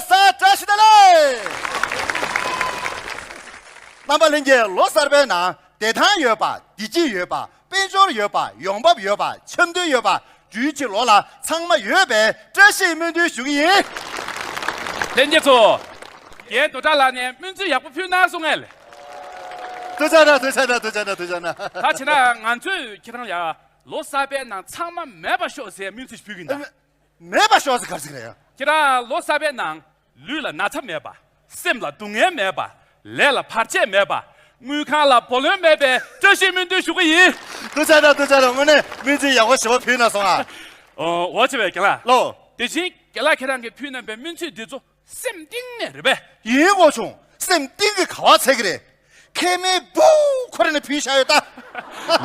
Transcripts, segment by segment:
ས་བཀྲ་ཤིས་བདེ་ལེགས། རྣམ་པ་གླིང་གའི་ལོ་གསར་པའི་ནང་བདེ་ཐང་ཡོད་པ་བདེ་སྐྱིད་ཡོད་པ་དཔལ་འབྱོར་ཡོད་པ་ཡོང་འབབ་ཡོད་པ་འཆམ་མཐུན་ཡོད་པ་རྒྱུའི་ཕྱིར་ལོ་ལ་ཚང་མ་ཡོད་པའི་བཀྲ་ཤིས་སྨོན་འདུན་ཞུ་གི་ཡིན། ལྷན་རྒྱས་ཚོ། རྒྱའི་རྡོ་བྲག་ལགས་ནས་སྨོན་ཚིག་ཡག་པོ་ཕུལ་ན་གསུང་ངལ། དུ་ཆ་ན་དུ་ཆ་ན་དུ་ཆ་ན་དུ་ཆ་ན། ད་བྱས་ན་ང་ཚོས་ཁྱེད་རང་ལ་ལོ་གསར་པའི་ནང་ཚང་མ་མེད་པ་ཤོག་ཟེར་སྨོན་ཚིག་ཕུལ་གི་འདའ། མེད་པ་ཤོག་ཟེར་གར་ཟིག་རེད་ཡ། ཁྱེད་རང་ལོ་གསར་པའི་ནང་ལུས་ལ་ན་ཚ་མེད་པ། སེམས་ལ་སྡུག་བསྔལ་མེད་པ། ལས་ལ་བར་ཆད་མེད་པ། དངུལ་ཁང་ལ་བུ་ལོན་མེད་པའི་བཀྲ་ཤིས་སྨོན་འདུན་ཞུ་གི་ཡིན། ཏུ་ཆ་དང་ཏུ་ཆ་དང་དངོས་གནས་སྨིན་ཚིག་ཡག་པོ་ཞེས་པ་ཕུལ་ན་སོང་ཨ། འོ་ཆེ་བའི་དགེ་ལགས། ལོ། དེ་བཞིན་དགེ་ལགས་ཁྱེད་རང་གིས་ཕུལ་གནང་པའི་སྨིན་ཚིག་འདི་ཚོ་སེམས་གཏིང་ནས་རེད་པས། ཡིན་གོ་བྱུང་སེམས་གཏིང་གི་ག་བ་ཚད་ཀྱི་རེད། མཁལ་མའི་བུ་ཁོ་རེ་ནས་ཕུལ་བཞག་ཡོད་ད།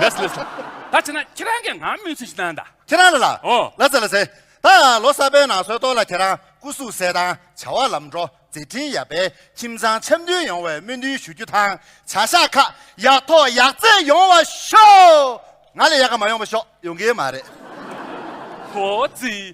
ལས་སུ་ལས་སུ། ད་བྱས་ན་ཁྱེད་རང་གིས་ང་སྨོན་ཚིག་ཅིག་གནང་ད། ཁྱེད་རང་ལ་ལ། ཨོ། ལ་ཚེ་ལ་ཚེ། ད་ཡང་ལོ་གསར་པའི་ནང་སོལ་ཏོག་ལ་ཁྱེད་རང་སྐུ་གཟུགས་གསལ་དང་བྱ་བ་ལམ་འགྲོ་མཛད་འཕྲིན་ཡག་པས་ཁྱིམ་ཚང་འཆམ་མཐུན་ཡོང་བའི་སྨོན་འདུན་ཞུ་རྒྱུ་དང་བྱ་གཞག་ཁག་ཡག་ཐོག་ཡག་བརྩེགས་ཡོང་བ་ཤོག། ང་ལས་ཡག་ག་མ་ཡོང་པ་ཤོག་ཡོང་གི་མ་རེད། ཧོ། ཙི།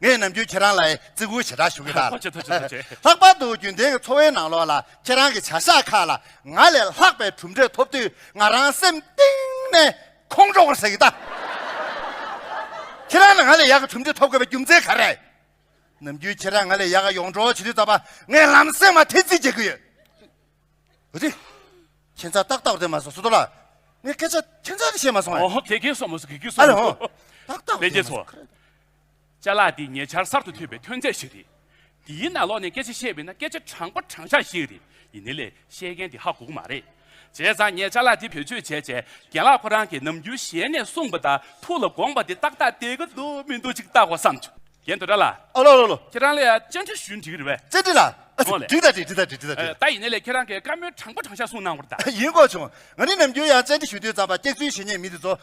ངས་ནམ་རྒྱུན་ཁྱེད་རང་ལ་བརྩི་བཀུར་ཞེ་དྲག་ཞུ་གི་གདའ། ལྷག་པར་དུ་རྒྱུན་ལྡན་གྱི་འཚོ་བའི་ནང་ལོགས་ལ་ཁྱེད་རང་གི་བྱ་གཞག་ཁག་ལ་ང་ལས་ལྷག་པའི་གྲུབ་འབྲས་ཐོབ་དུས་ང་རང་སེམས་གཏིང་ནས་ཁོང་ཁྲོ་བར་བྱེད་ཀྱི་གདའ། ཁྱེད་རང་ལ་ང་ལས་ཡག་གི་གྲུབ་འབྲས་ཐོབ་དགོས་པའི་རྒྱུ་མཚན་ག་རེད། ནམ་རྒྱུན་ཁྱེད་རང་ང་ལས་ཡག་གི་ཡོངས་གྲོགས་བྱེད་དུས་ད་བར་ངས་ལམ་སེང་མ་ཐེ་ཙི་བྱེད་ཀྱི་ཡོད། འོ་དེ་ཁྱེད་རང་ཏག་ཏག་བསྡད་མ་སོང་སུ་དོ་ལ་ངས་སྐད་ཆ་ཁྱེད་རང་ལ་བཤད་མ་སོང་ཨ། ཨོ་ཧོ་ཁྱེད་ཁྱེད་སོང་མ་སོང་གི་གི་སོང། ཨ་ལོ་ཏག་ཏག་བསྡད་མ་སོང། བཅའ་ལག་འདི་ཉེ་ཆར་གསར་དུ་ཐོན་པའི་ཐོན་རྫས་ཤིག་རེད། འདིའི་ནང་ལོགས་ནས་སྐད་ཆ་བཤད་པས་ན་སྐད་ཆ་དྲང་པོ་དྲང་བཞག་ཞིག་རེད་ཡིན་ནི་ལས་བཤད་མཁན་དེ་ཧ་གོ་གི་མ་རེད། བྱས་ཙང་ངས་བཅའ་ལག་འདི་བེད་སྤྱོད་བྱས་རྗེས་རྒན་ལགས་ཁོ་རང་གིས་ནམ་རྒྱུན་ཞལ་ནས་གསུངས་པ་ལྟར་ཐུགས་ལ་དགོངས་པ་དེ་ཏག་ཏག་བསྡད་ཀྱི་འདུག་མི་འདུག་ཅིག་བལྟ་གོ་བསམ་བྱུང། རྒན་དོ་ར་ལགས། ཨ་ལོ་ལོ་ལོ། ཁྱེད་རང་ལ་ཡང་བཅར་འདྲི་ཞུ་འདྲི་གི་རེད་བས། བཅར་འདྲི་ལ། འོ་ལེ། འདྲི་ད་འདྲི་འདྲི་ད་འདྲི་འདྲི་ད་འདྲི། ད་ཡིན་ནི་ལས་ཁྱེད་རང་གིས་བཀའ་མོལ་དྲང་པོ་དྲང་བཞག་གསུངས་གནང་བར་གདའ། ཡིན་གོ་བྱུང། ང་ནི་ནམ་རྒྱུན་ཡང་བཅར་འདྲི་ཞུ་དུས་ཙམ་པ་སྐྱག་རྫུན་བཤད་ཉེས་མི་འདི་ཚོ་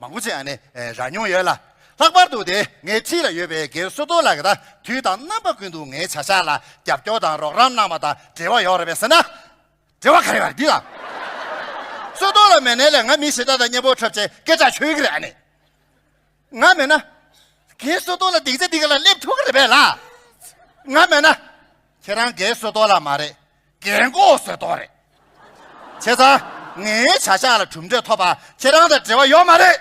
མང་པོ་ཅི་ཡང་ནི་རག་མྱོང་ཡོད་ལ། ལྷག་པར་དུ་དེ་སྔའི་འཁྲིས་ལ་ཡོད་པའི་སྒེར་བཟོ་གཏོར་བརླག་གི་དང་དུས་དང་རྣམ་པ་ཀུན་ཏུ་ངའི་བྱ་བཞག་ལ་རྒྱབ་སྐྱོར་དང་རོགས་རམ་གནང་བ་དང་འབྲེལ་བ་ཡོད་རེད་པས་ཟེར་ན། འབྲེལ་བ་ག་རེ་བ་རེད་འདི་དང། བཟོ་གཏོར་ལ་མེད་ནའི་ལས་ང་མི་ཞེ་དྲག་དང་གཉེན་པོ་འཁྲབ་བྱའི་སྐད་ཆ་ཤོད་ཀྱི་རེད་ཨ་ནི། ང་མེད་ན། སྒེར་བཟོ་གཏོར་ལ་སྡིག་ཆ་འདི་ག་ལ་སླེབས་ཐུབ་ཀྱི་རེད་པས་ལ། ང་མེད་ན། ཁྱེད་རང་སྒེར་བཟོ་གཏོར་ལ་མ་རེད། རྒན་མགོ་བཟོས་དོགས་རེད། བྱས་ཙང་ངའི་བྱ་བཞག་ལ་གྲུབ་འབྲས་ཐོབ་པ་ཁྱེད་རང་དང་འབྲེལ་བ་ཡོད་མ་རེད།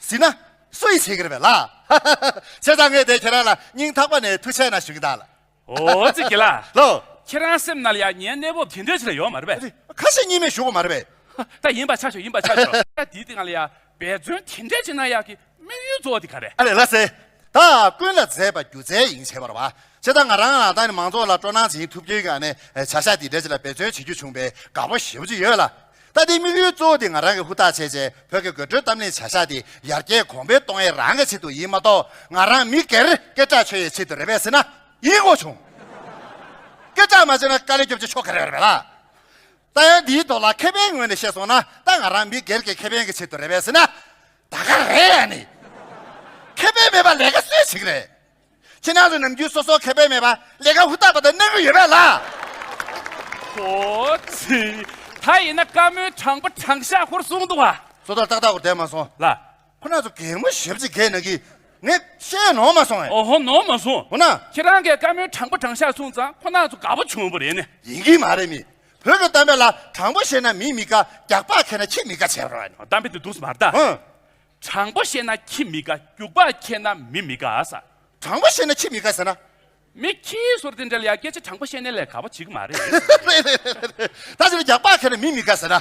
ཟིན་ན་སུ་ཡིས་བྱེད་ཀྱི་རེད་བས་ལགས། བྱས་ཙང་ངས་དེ་ཁྱེད་རང་ལ་སྙིང་ཐག་པ་ནས་ཐུགས་ཆེ་ན་ཞུ་གི་གདའ་ལ། ཨོ་རྩེ་དགེ་ལགས། ལོ། ཁྱེད་རང་སེམས་ན་ལ་ཡ་ངའི་གནས་བབ་དེ་འདྲའི་ཆེ་ལ་ཡོད་མ་རེད་བས། རེད། ཁ་ཞེ་གཉིས་མེད་ཞུ་གོ་མ་རེད་བས། ད་ཡིན་པ་ཆགས་ཞོག་ཡིན་པ་ཆགས་ཞོག། ད་དེའི་སྟེང་ལ་ཡ། འབད་བརྩོན་དེ་འདྲས་བྱེད་ན་ཡག་གི་དམིགས་ཡུལ་གཙོ་བོ་དེ་ག་རེད། ཨ་ལས་ལ་སེ། ད་ཀུན་ལ་མཛེས་པ་སྒྱུ་རྩལ་ཡིན་བྱས་པར་བ། ཕྱི་ད་ང་རང་ལ་ད་ནི་མང་ཚོགས་ལ་སྤྲོ་སྣང་སྦྱིན་ཐུབ་རྒྱུའི་ག་ནི་བྱ་བཞག་དེ་འདྲས་ཅིག་ལ་འབད་བརྩོན་བྱེད་རྒྱུ་བྱུང་བས་དགའ་པོ་ཞེ་བོ་ཅིག་ཡོད་ལ། ད་དེའི་དམིགས་ཡུལ་གཙོ་བོ་དེ་ང་རང་གི་ཧུར་ཐག་བྱས་རྗེས་བོད་ཀྱི་དགོད་བྲོའི་གཏམ་གླེང་བྱ་བཞག་དེ་ཡར་རྒྱས་གོང་འཕེལ་གཏོང་ཡས་རང་གི་ཆེད་དུ་ཡིན་མ་གཏོགས་ང་རང་མི་སྒེར་སྐད་གྲགས་ཆོད་ཡས་ཆེད་དུ་རེད་བས་ཟེར་ན་ཡིན་དགོས་བྱུང། སྐད་གྲགས་མ་ཆོད་ན་དཀའ་ལས་སྐྱོབ་ཅི་ཆོག་ག་རེ་རེད་བས་ལ། རྩ་ཡང་འདིའི་ཐོག་ལ་ཁེ་ཕན་ངོས་ནས་བཤད་སོང་ན་ད་ང་རང་མི་སྒེར་གྱི་ཁེ་ཕན་གྱི་ཆེད་དུ་རེད་བས་སྲིད་ན། ད་ག་རེད་ཡ་ནི། ཁེ་ཕན་མེད་པ་ལས་ཀ་སུས་བྱེད་ཀྱི་རེད། ཕྱི་ནང་གི་ནམ་རྒྱུན་སོ་སོ་ཁེ་ཕན་མེད་པ་ལས་ཀ་ཧུར་ཐག་པ་དེ་གནང་གི་ཡོད་པས་ལ། ཧོ། ཚུལ། ད་ཡིན་ན་བཀའ་མོལ་དྲང་པོ་དྲང་བཞག་ཧུར་བཟུང་འདུག་བ། སོ་ཐར་ཏག་ཏག་ཧུར་བསྡད་མ་སོང། ལ། ཁོ་ན་ཚོ་གད་མོ་ཞབས་ཀྱིས་གད་ན་གི། ངས་བཤད་ནོར་མ་སོང་ཨེ། འོ་ཧོ་ནོར་མ་སོང། འོ་ན། ཁྱེད་རང་གིས་བཀའ་མོལ་དྲང་པོ་དྲང་ཤག་གསུངས་ཙང་ཁོ་ན་ཚོ་དགའ་བོ་བྱུང་བོ་རེད་ནི། ཡིན་གྱི་མ་རེད་མི་བོད་ཀྱི་གཏམ་དཔེ་ལ་དྲང་པོ་བཤད་ན་མིས་མི་དགའ་རྒྱག་པ་མཁས་ན་ཁྱི་མི་དགའ་བྱེད་པར་བ་ནི། གཏམ་དཔེ་དེ་སྡུག་སྨྲ་ད། ཧུན། དྲང་པོ་བཤད་ན་ཁྱི་མི་དགའ་རྒྱུག་པ་མཁས་ན་མི་མི་དགའ་ཨ་ས། དྲང་པོ་བཤད་ན་ཁྱི་མི་དགའ་ཟེར་ན། མི་ཁྱི་ཟུར་དེ་འདྲ་ལ་ཡང་སྐད་ཆ་དྲང་པོ་བཤད་ནས་ལས་དགའ་བོ་བྱེད་གི་མ་རེད། རེད་རེད་རེད་རེད་རེད་ད་ཕྱིར་རྒྱག་པ་མཁས་ན་མིས་མི་དགའ་ཟེར་ན།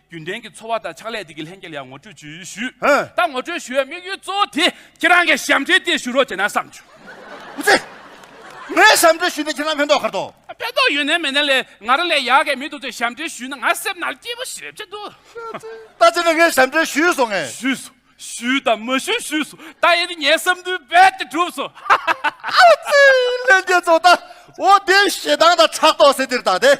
རྒྱུན་ལྡན་གྱི་འཚོ་བ་དང་ཕྱག་ལས་དེ་གའི་ལྷན་རྒྱས་ལ་ཡང་ངོ་སྤྲོད་ཞུ་ཡུལ་ཞུས། ད་ངོ་སྤྲོད་ཞུ་བའི་དམིགས་ཡུལ་གཙོ་བོ་དེ་ཁྱེད་རང་གིས་ཞབས་འདྲེན་དེ་ཞུ་རོགས་བྱས་ན་བསམ་བྱུང། ཨུ་ཚེ། ངའི་ཞབས་འདྲེན་ཞུས་ཏེ་ཁྱེད་རང་ཕན་ཐོགས་ཁར་ཐོགས། ཕན་ཐོགས་ཡོད་ནའི་མེད་ནའི་ལས་ང་རང་ལས་ཡག་གི་མི་འདུག་ཚོས་ཞབས་འདྲེན་ཞུས་ན་ང་སེམས་ནང་སྐྱིད་པོ་ཞིག་རེད་བྱེད་འདུག། ད་ཁྱེད་རང་ངའི་ཞབས་འདྲེན་ཞུས་སོང་ངས། ཞུས་སོང། ཞུས་དང་མ་ཞུས་ཞུས་སོང། ད་ཡིན་ནི་ངའི་བསམ་འདུན་རྦད་དེ་འགྲུབ་སོང། ཨུ་ཚེ། ལྷན་རྒྱས་ཚོ་ད་འོ་དེའི་ཞེ་སྡང་དང་ཕྲག་དོག་སེ་འདིར་བཏགས་ཏེ།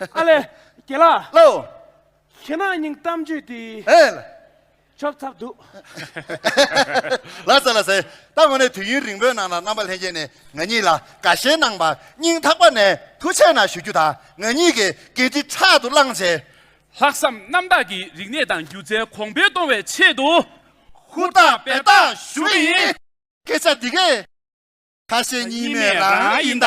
ཨ་ལས། རྒྱལ་ལགས། ལོ། ཁྱེད་ནང་སྙིང་གཏམ་བརྗོད་དུས། ཨེ། ཆོབ་ཚབ་འདུག། ལ་ཟེར་ལ་ཟེར། ད་དངོས་གནས་དུས་ཡུན་རིང་པོའི་ནང་ལ་རྣམ་པ་ལྷན་རྒྱས་ནས་ང་གཉིས་ལ་དགའ་ཞེན་གནང་བར་སྙིང་ཐག་པ་ནས་ཐུགས་ཆེ་ན་ཞུ་རྒྱུ་དང་ང་གཉིས་ཀྱི་འགན་འཁྲི་ཕྲག་ཏུ་བླངས་རྗེས། ལྷག་བསམ་རྣམ་དག་གིས་རིག་གནས་དང་སྒྱུ་རྩལ་གོང་འཕེལ་གཏོང་བའི་ཆེད་དུ། ཧུར་ཐག་འབད་ཐག་ཞུ་གི་ཡིན། སྐད་ཆ་འདི་གས། ཁ་ཞེ་གཉིས་མེད་རང་ཡིན་ད།